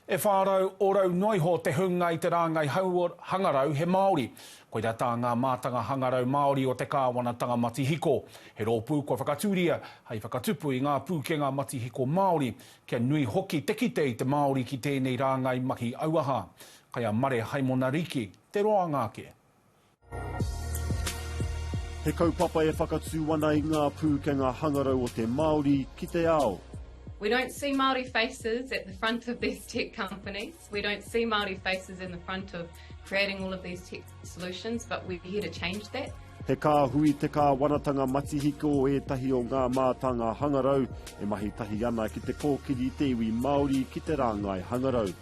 E whā rau orau noa iho te hunga i te rāngai hauora hangarau he Māori. Koira tā ngā mātanga hangarau Māori o te kāwanatanga matihiko. He rōpū kua whakatūria hai whakatupu i ngā pūkenga matihiko Māori, kia nui hoki te kite i te Māori ki tēnei rāngai mahi auaha. Kai a Mare Haimonariki te roanga ake. He kaupapa e whakatū ana i ngā pūkenga hangarau o te Māori ki te ao. We don't see Māori faces at the front of these tech companies, we don't see Māori faces in the front of creating all of these tech solutions, but we're here to change that. He kāhui te kāwanatanga matihiko o ētahi o ngā mātanga hangarau e mahi tahi ana ki te kōkiri i te iwi Māori ki te rāngai hangarau.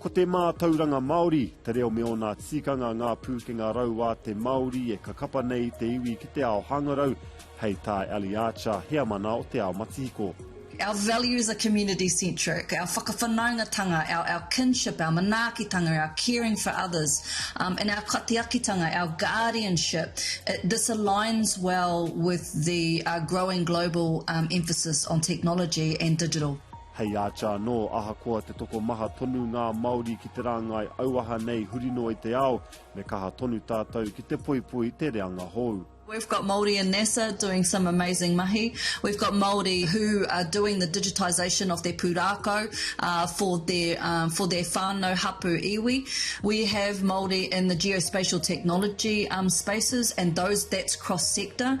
Ko te mātauranga Māori, te reo me ōna tikanga ngā pūkenga rau a te Māori e ka kapa nei i te iwi ki te ao hangarau, hei tā Ellie Archer, heamana o Te Ao Matihiko. Our values are community centric, our whakawhanaungatanga, our our kinship, our manaakitanga, our caring for others, um, and our katiakitanga, our guardianship, it, this aligns well with the uh, growing global um, emphasis on technology and digital. Hei Archer anō, ahakoa te tokomaha tonu ngā Māori ki te rāngai auaha nei huri noa i te ao, me kaha tonu tātou ki te poipoi te reanga hou. We've got Māori in NASA doing some amazing mahi, we've got Māori who are doing the digitisation of their pūrākau for their for their whānau hapu iwi, we have Māori in the geospatial technology spaces and those that's cross sector.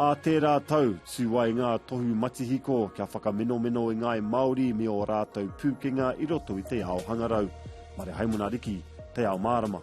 Ā tērā tau, tū ai ngā tohu matihiko kia whakamenomeno i ngāi Māori me ō rātou pūkenga i roto i te ao hangarau. Mare Haimona Riki, Te Ao Mārama.